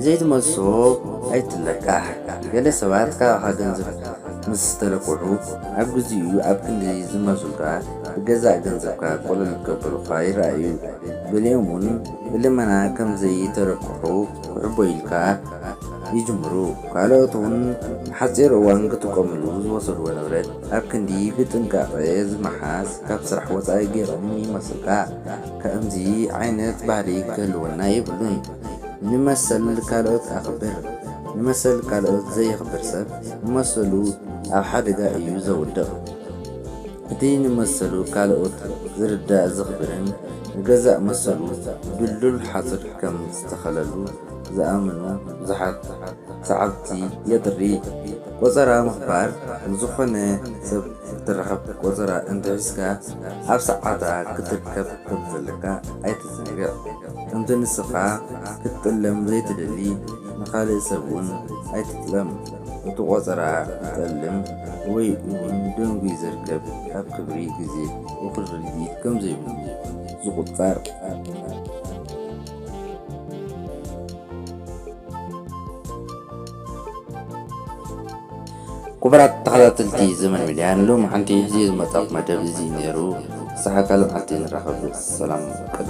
ዘይትመልሶ ኣይትለቃሕ ገለ ሰባት ካባኻ ገንዘብ ምስ ዝተለቅሑ ኣብ ግዚኡ ኣብ ክንዲ ዝመልሱልካ ብገዛእ ገንዘብካ ቆለል ክገብሩልኻ ይርኣዩ። ገሊኦም እውን ብልመና ከም ዘይተለቅሑ ትውዕቦ ኢልካ ይጅምሩ ካልኦት ውን ንሓጺር እዋን ክጥቀምሉ ዝወሰድዎ ንብረት ኣብ ክንዲ ብጥንቃቀ ዝመሓዝ ካብ ስራሕ ወጻኢ ጌሮም ይመስልካ ከእምዚ ዓይነት ባህሊ ክህልወና የብሉን ንመሰል ካልኦት ኣኽብር ንመሰል ካልኦት ዘየኽብር ሰብ ንመሰሉ ኣብ ሓደጋ እዩ ዘውድቅ። እቲ ንመሰሉ ካልኦት ዝርዳእ ዘኽብርን ንገዛእ መሰሉ ድልዱል ሓጹር ከም ዝተኸለሉ ዝኣምኑ ብዙሓት ሰዓብቲ የጥሪ። ቆጸራ ምኽባር፣ ንዝኾነ ሰብ ክትራኸብ ቆጸራ እንተሒዝካ ኣብ ሰዓታ ክትርከብ ከም ዘለካ ኣይትዘንግዕ። ከምቲ ንስኻ ክትጥለም ዘይትደሊ ንኻልእ ሰብ'ውን ኣይትጥለም። እቲ ቆጸራ ዝጠልም ወይ እውን ደንጒዩ ዝርከብ ኣብ ክብሪ ግዜ እኹል ርድኢት ከም ዘይብሉ ዝቑጸር፣ ኩቡራት ተኸታተልቲ ዘመን ሚድያ ንሎሚ ሓንቲ ሒዝዮ ዝመጻኹ መደብ እዚ እዩ ኔሩ ክሳዕ ካልእ መዓልቲ ንራኸብ ሰላም ቅነ።